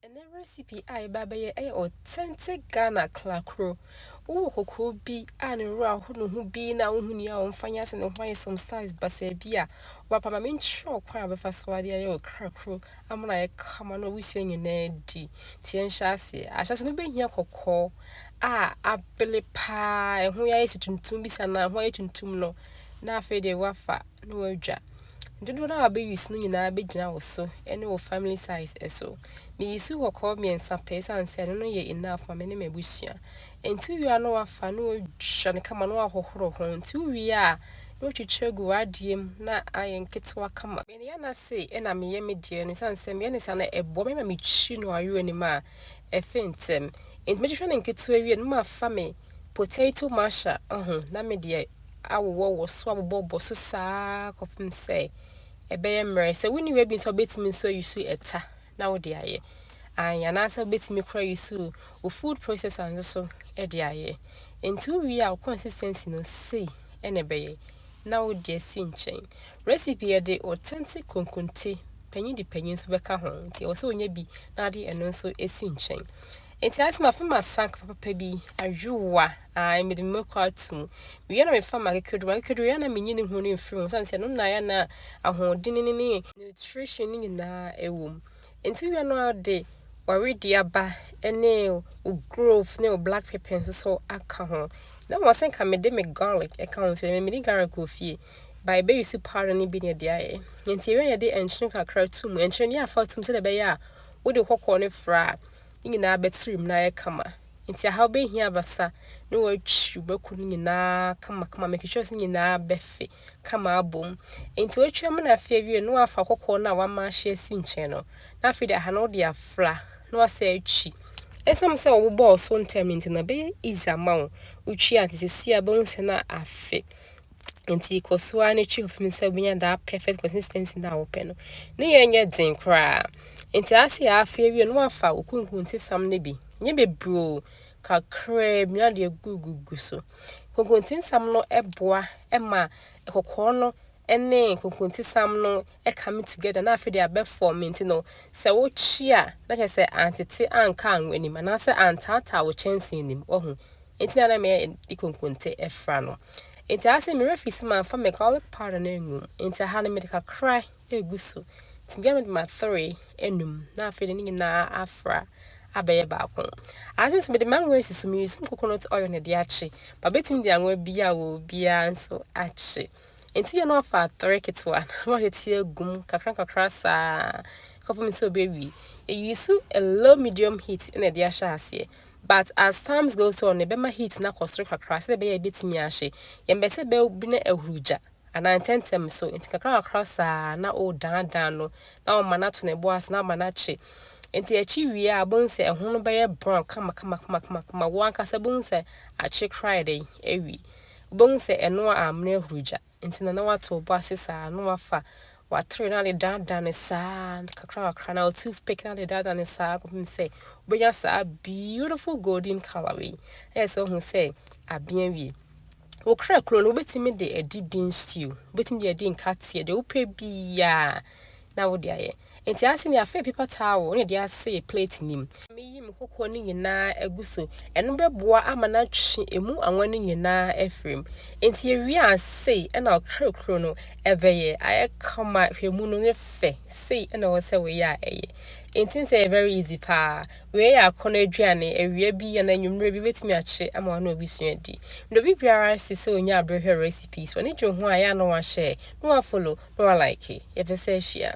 Ɛnɛ recipe a yɛba abɛyɛ yɛ authentic Ghana klakro. Wowɔ kokoo bi a ne wura ho ne ho bi na wonhu nea ɔmfa nyɛ ase ne ho ayɛ some styles basaa bi a, wapa ma menkyerɛ wo kwan a wobɛfa so ade ayɛ wo klakro ama no ayɛ kama na w'abusua nyinaa adi. Nti yɛnhyɛ aseɛ. Ahyɛse no wobɛhia kɔkɔɔ a abele paa, ɛho yɛ ayɛ sɛ tuntum bi saa na ɛho ayɛ tuntum no na afei deɛ woafa na wɔadwa. Dodow no a wɔbɛ use no nyinaa bɛgyina wo so ne wo family size so. Me use kɔkɔɔ mmiɛnsa pɛ ɛsiane sɛ ɛno no yɛ enough ma me ne m'abusua. Nti wowie a na wafa na wɔatwa no kama na wahohoro ho. Nti wowie a na watwitwi agu w'adeɛ mu na ayɛ nketewa kama. Me nua no se ɛna meyɛ me deɛ no ɛsiane sɛ meyɛ no saa na ɛboa me ma metwi no ayowa no mu a ɛfe ntɛm. Nti mɛtwitwa no nketewa wie no na mafa me potato masher ho na me deɛ awowɔ wɔ so abobɔ bɔ so saa kɔpem sɛ ɛbɛyɛ mmerɛ. Sɛ wonni w'abi nso wobɛtumi nso ayusu ɛta na wode ayɛ. Ae anaasɛ wobɛtumi koraa ayusu wo food processor nso so de ayɛ. Nti wowie a wo consistency no sei na ɛbɛyɛ na wode asi nkyɛn. Recipe yɛde authentic konkonte, panyin de panyin nso bɛka ho nti ɛwɔ sɛ wonya bi na wode ɛno nso asi nkyɛn. Enti ayɛ sɛ mafa m'asa papa bi, ayowa, ae, mede me mma kɔ ato mu. Wia na mefa m'akekaduru, m'akekaduru wia na menyi ne ho no mfiri ho, ɛsiane sɛ ɛno na ayɛ a na ahoɔdene no ne nutrition no nyinaa wɔ mu. Enti wia no ara wode w'aweduaba ne wo grove ne wo black pepper nso so aka ho. Na mmom asɛ nka mede me garlic ka ho nso, ɛmɛ mede garlic wɔ fie. Ba ɛbɛyusu powder no bi na ɛde ayɛ. Enti wia yɛde nkyene kakra to mu, nkyene no yɛ afa to mu sɛdeɛ ɛbɛyɛ a wode kɔkɔɔ no fra a, ne nyinaa bɛtirim na ayɛ kama. Enti ahaw behia abasa ne watwiw bɛko no nyinaa kamakama ama twitwɛw no nyinaa bɛfe kama abom. Enti watwi amena afe awiei no na wafa kɔkɔɔ no a wama ahye asi nkyɛn no, na afei de aha no wode afra na wasan atwi. Esiane sɛ wobɔɔ so ntɛm no nti no, ɛbɛyɛ easy ama wo wotwi a nti seesei a wobɛhu sɛ na afe Enti kɔ so ara na twi hofim sɛ wobɛnya that perfect consistency no a wopɛ no. Ne yɛ nyɛ den koraa. Enti ase yɛ afe awie no wafa wo kunkuntesam no bi. Nyɛ bebree o, kakraa bi na deɛ gugugu so. Kunkuntesam no boa ma kɔkɔɔ no ne kunkuntesam no come together na afei de abɛfɔm nti no sɛ wokye a na kyerɛ sɛ antete anka anwo anim anaasɛ antaataa wo kyɛnsee anim wahu Enti na na meyɛ de konkonte fra no. Enti aha sɛ mewerɛ fii sɛ mamfa me garlic powder no angu mu. Enti aha no mede kakra regu so. Enti bia mede matere anum na afei de ne nyinaa afra abɛyɛ baako. Aha sɛ nso mede m'anwa resusu me using coconut oil na ɛde akye. Ba bɛtumi de anwa bi a wɔ biara nso akye. Enti yɛ na wafa atere ketewa na watete agu mu kakra kakra saa kɔpem sɛ ɔbɛwie. Yɛ use a low medium heat na ɛde ahyɛ aseɛ. But as times goes on no yɛbɛma heat no akɔ soro kakra sɛdeɛ ɛbɛyɛ a ɛbɛtumi ahye. Yɛmpɛ sɛ bɛbi na ahuru gya anaa ntɛntɛm so nti kakra kakra saa na wodaadaa no na woma no ato ne bo ase na woma no akye. Nti akye wie a wobɛhu sɛ ɛho no bɛyɛ brown kama kama kama kama kama wo ankasa bɛhu sɛ akye koraa yɛ dɛn awie. Wobɛhu sɛ ɛnoa amene ahuru gya. nti na na wato wo bo ase saa na wafa w'atere no ade daadaa no saa kakra kakra anaa wo toothpick no ade daadaa no saa kɔpem sɛ wobɛnya saa beautiful golden color wei ɛyɛ sɛ wohu sɛ abea wie wo kra kuro no wobɛtumi de adi bean stew wobɛtumi de adi nkateɛ deɛ wopɛ biaa na wode ayɛ. Enti ase ne afe apipa taa wo ne deɛ ase yɛ plate nim. Meyi me koko no nyinaa agu so. Ɛno bɛboa ama no atwe ɛmu anwa no nyinaa afiri mu. Enti yɛwie a sei na wo krekro no bɛyɛ. Ayɛ kama, hwɛ mu no yɛ fɛ. Sei na ɛwɔ sɛ woyɛ a ɛyɛ. Enti sɛ ɛyɛ very easy paa. Wei yɛ akɔnnɔ aduane, awia bi anaa anwummere bi wobɛtumi akyere ama wone obi sua adi. Na obi biara nse sɛ ɔnya bere hwɛ recipes, w'ani gye ho a ɛyɛ a na woashare, na woafollow, na woalike. Yɛpɛ sɛ ahyia.